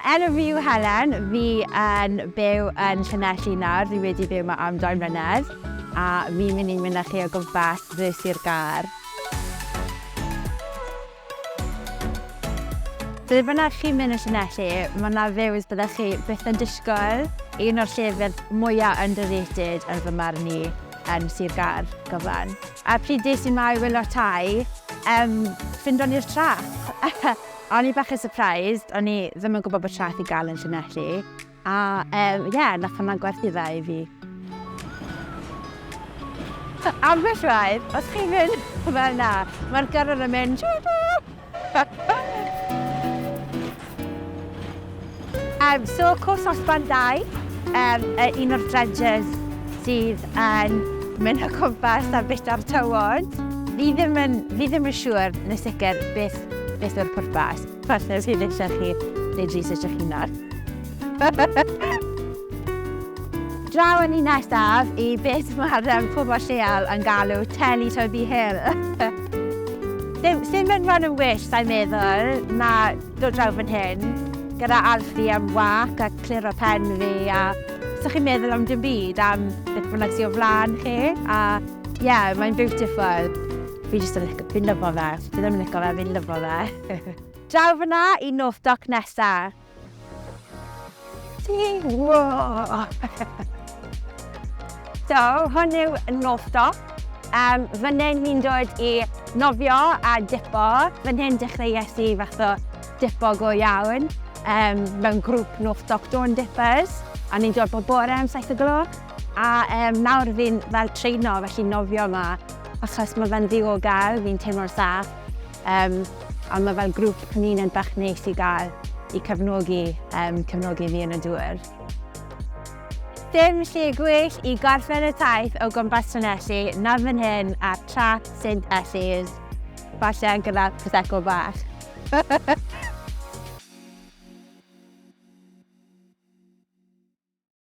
Enw fi yw Helen, fi yn byw yn Llanelli nawr, fi wedi byw yma am dau mlynedd, a fi'n mynd i mynychu o gwmpas dde Sir Gâr. Ble bynnag chi'n mynd yn Llanelli, mae 'na views byddech chi byth yn disgwyl, un o'r llefydd mwya' underrated yn fy marn i yn Sir Gâr, Goglân. A pryd des i 'ma i wylio'r tai, yym, ffindon ni'r trac! O'n i bach yn surprised, o'n i ddim yn gwybod bod traeth i gael yn Llanelli. A ie, um, yeah, nath hwnna gwerthu dda i fi. Ambell waith, os chi'n mynd fel na, mae'r gyrrwr yn mynd... Yym so cwrs osban dai yym yy un o'r dredges sydd yn mynd o cwmpas a byta'r tywod. Fi ddim yn fi ddim yn siŵr yn y sicr beth beth yw'r pwrpas. Partner sydd eisiau chi wneud research eich hunan. Draw â ni nesaf i beth mae'r yym pobl lleol yn galw Teletubby Hill. Dim dim yn rhan yn well sai'n meddwl, ma' dod draw fan hyn gyda ardd fi am wâc a cliro pen fi a so chi'n meddwl am dim byd am beth bynnag sy'n o flaen chi a ie yeah, mae'n beautiful. Fi jyst yn licio, fi'n lyfo fe. Fi ddim yn licio fe, fi'n lyfo fe. Draw fyna i North Dock nesa. So, hwn yw nos stop. Um, fan hyn ni'n dod i nofio a dipo. Fan hyn dechreuais i fath o dipo go iawn um, mewn grŵp nos stop Dawn Dippers. A ni'n dod bob bore am 7 o gloch. A um, nawr fi'n fel treino, felly nofio yma. Achos mae fe'n ddiogel, fi'n teimlo'n saff. Um, A mae fel grŵp cymuned bach neis i gael i cefnogi, yym, cefnogi fi yn y dŵr. Dim lle gwell i gorffen y taith o gwmpas Llanelli na fan hyn ar Traeth Saint Ellies, falle gyda prosecco bach!